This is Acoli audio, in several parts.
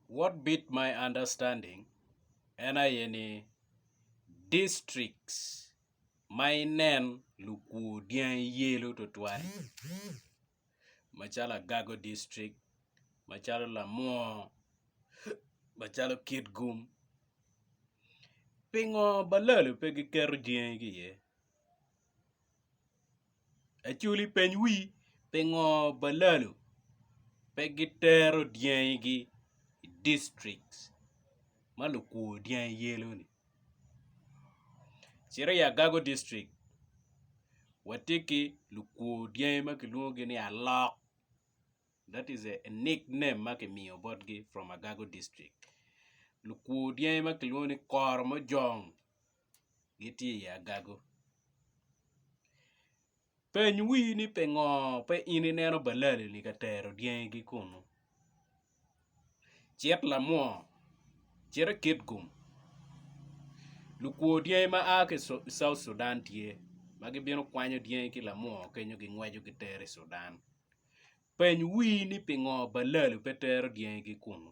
what beat my understanding en aye ni districts ma inen lukwor dyangi yelo twatwal macalo Agago district, macalo Lamwor, macalo Kitgum pingo balalo pe giketo dyangi ki iye? Acoli peny wi pingo balalo pe gitero dyangi gi i district ma lukwo dyangi yelo ni cito i agago district watye ki lukwo dyangi ma kilwongo gi ni alok that is a nick name ma kimiyo bot gi from agago district lukwo dyangi ma kilwongo ni koro mojong gitye i agago. Peny wi ni pingo pe in ineno balali-ni ka tero dyangigi kunnu. Cit lamwor, cit i Kitgum, lukwo dyangi ma a ki i South Sudan tye ma gibino kwanyo dyangi ki lamwor kenyo gingweco gitero i Sudan. Peny wi ni pingo balali pe tero dyangigi kunnu.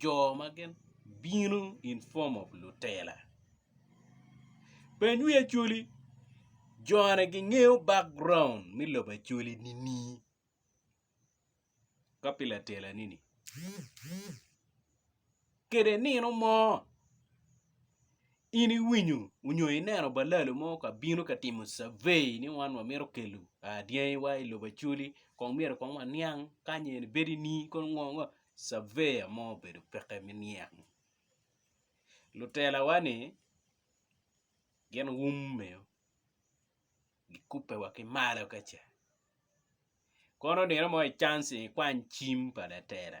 jo ma gin bino in form of lutela peny wi acholi jone gingeyo background me lobo acholi nini ka pi latela nini kede nino mo In iwinyo onyo ineno balalo mo ka bino ka timo survey ni wan wa mito kelo dyangi wa i lobo Acholi kong myero kong wa niang kany eni bedo i nii kono ngo ngo surveyor mo obedo peke me niang lutela wa ni gin wume o gikube wa ki malo kaca kono nino mo i chance ni ikwany cim pa latela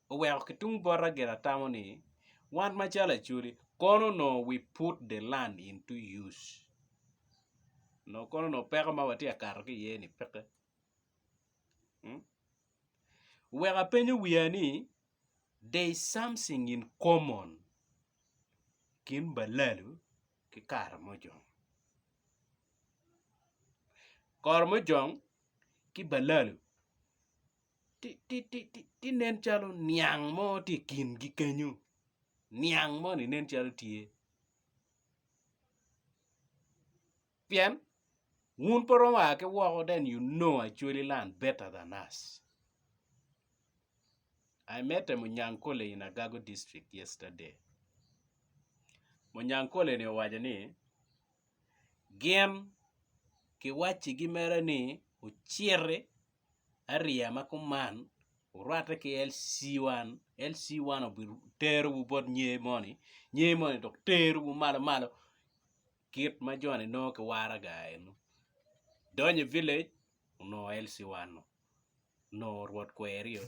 oweko ki tung bota gire atamo ni, Wan macalo Acholi, kono onongo we put the land into use. Onongo kono onongo peko ma watye ka kato ki iye ni peke. Hmm? Oweko apenyo wiya ni, there is something in common kin balalu ki karamojong. Karamojong ki balalu tye nen calo niang mo tye i kingi kenyo niang moni nen calo tye pien wun pe iromo a ki woko then you know Acholi land better than us, I met a Munyankole in Agago district yesterday, Munyankole-ni owaco ni gin kiwaccigi mere ni ociti ariya ma kuman orwatte ki LC1, LC1 terowu bot nge moni, nge moni dok terowu malo malo kit ma joni nongo ki waraga eno, idonyo i village onongo LC1 onongo rwod kweri-o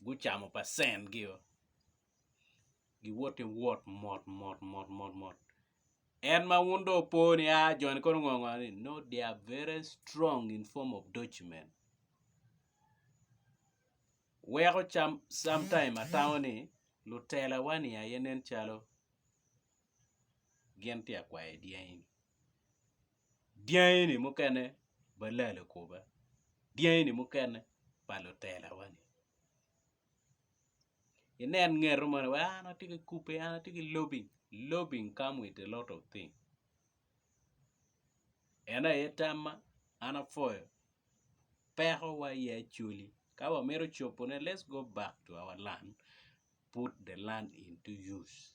gucamo percent gi-o. giwoto giwot mot mot mot mot mot en ma wun dong opo ni aa joni kono ngo ngo ni no they are very strong in form of document weko sometime atamo ni lutela wa ni aye nen calo gin tye ka kwayo dyangi ni dyangi ni mukene balala kuba dyangi ni mukene pa lutela wa ni. inen ngeto moni wai an atye ki kube an atye ki lobi lobi come with a lot of thing ene aye tamma an apwoyo peko wa aye acholi ka wamito cobo ne let's go back to our land put the land into use.